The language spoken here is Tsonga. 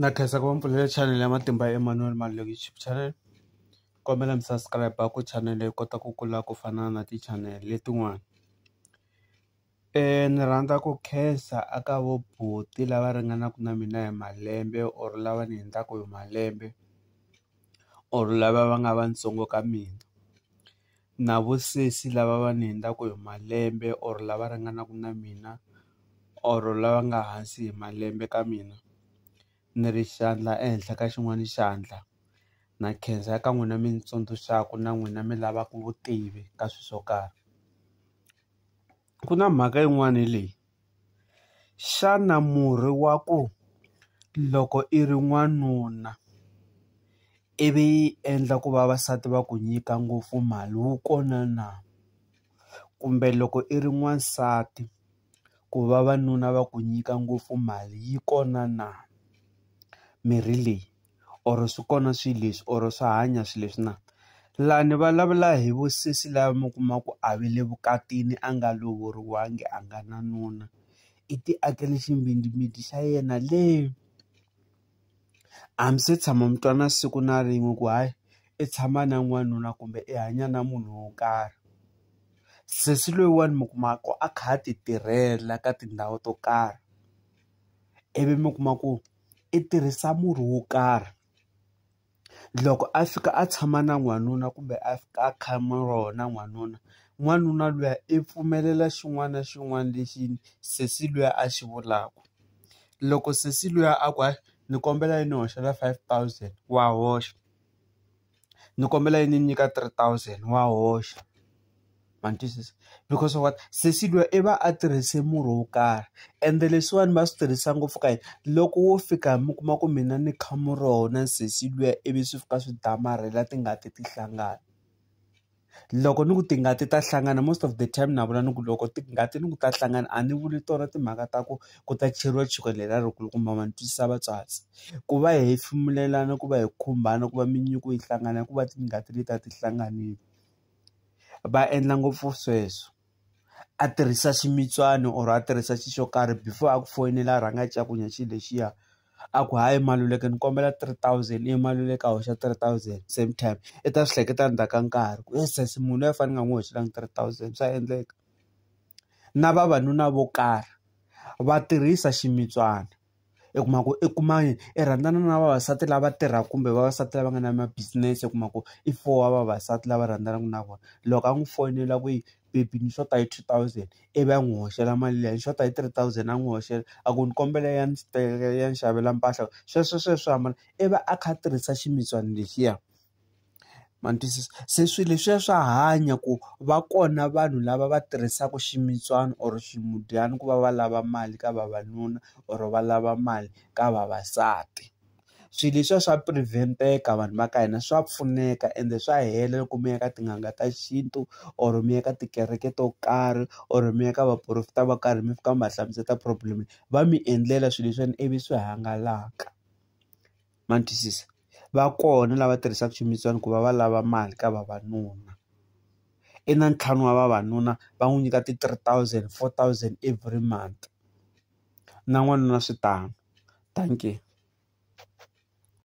Na khensa ku va mi pfulele chanele ya Matimba ya Emmanuel Maluleke YouTube channel kombela mi subscribe ku chanele yi kota ku kula ku fana na ti-channel letin'wana ni rhandza ku khensa a ka vo buti lava ringanaku na mina hi malembe or lava ni hindzaku hi malembe or lava va nga vatsongo ka mina. na vo sesi lava va ni hundzaka hi malembe or lava ringanaka na mina or lava nga hansi hi malembe ka mina ni ri xandla ehenhla ka xin'wana xandla na khensa eka n'wina mi ni tsundzuxaka na n'wina mi lavaka vutivi ka swilo swo karhi. Ku na mhaka yin'wani leyi xana murhi wa ku loko i ri n'wanuna i vi yi endla ku vavasati va ku nyika ngopfu mali wu kona na kumbe loko i ri n'wansati ku vavanuna va ku nyika ngopfu mali yi kona na mirhi leyi. or swi kona swilo leswi or swa hanya swilo leswi na laha ni vulavula hi vu sesi lava mi kuma ku a va le vukatini a nga lovoriwanga a nga na nuna i ti akele xinghingimiti xa yena le a mi se tshama mi twana siku na rin'we ku hayi i tshama na n'wanuna kumbe i hanya na munhu wo karhi sesi loyiwani mi kuma ku a kha a ti tirhela ka tindhawu to karhi ivi mi kuma ku. i tirhisa murhi wo karhi loko a fika a tshama na n'wanuna kumbe a fika a khama rona n'wanuna n'wanuna luya i pfumelela xin'wana na xin'wana lexi sesi luya a xi vulaku loko sesi luya a ku hayi ni kombela i ni hoxela five thousand wa hoxa. ni kombela yi ni nyika three thousand wa hoxa ma ni twisisa because what sesi luya i va a tirhise murhi wo karhi ende leswiwani va swi tirhisa ngopfu ka yini loko wo fika mi kuma ku mina ni kha murhi wa wena sesi luya ivi swi fika swi damarhela tingati ti hlangana. loko ni ku tingati ta hlangana most of the time na vula ni ku loko tingati ni ku ta hlangana a ni vuli tona timhaka ta ku ku ta cheriwa chukele leri a ri kulukumba ma ni twisisa vatswatsi ku va hi hefemulelana ku va hi khumbana ku va minyuku yi hlangana ku va tingati leti a ti hlanganile va endla ngopfu sweswo. a tirhisa ximitswani or a tirhisa xi xo karhi before a ku foyinela a rhanga a cakunya xilo lexiya a ku hayi Maluleke ni kombela three thousand iye Maluleke a hoxa three thousand same time i ta swi hleketa ndzhaku ka nkarhi ku he sesi munhu loyi a fane ni nga n'wi hoxelangi three thousand swa endleka na vavanuna vo karhi va tirhisa ximitswana. i kuma ku i kuma i rhandzana na vavasati lava tirhaka kumbe vavasati lava nga na ma business u kuma ku i four wa vavasati lava rhandzanaka na vona loko a n'wi foyinela ku yi baby ni xota hi two thousand ivi a n'wi hoxela mali liya ni xota hi three thousand a n'wi hoxela a ku ni kombela ya ni ya ni xavela mpahla sweswo sweswo hambana i va a kha a tirhisa ximicana lexiya. ma ni twisisa se swilo leswiya swa hanya ku va kona vanhu lava va tirhisaka ximbyana or swimudyana ku va va lava mali ka vavanuna or va lava mali ka vavasati swilo leswiya swa prevent-eka vanhu va ka hina swa pfuneka ende swa hela loko mi ya ka tin'anga ta xintu or mi ya ka tikereke to karhi or mi ya ka vaporofeta vo karhi mi fika mi va hlamusela problem va mi endlela swilo leswiwani ivi swi hangalaka. ma ni twisisa va kona lava tirhisaka swimilana ku va va lava mali ka vavanuna i na ntlhanu wa vavanuna va n'wi nyika ti three thousand four thousand every month na n'wanuna swi tano dankie.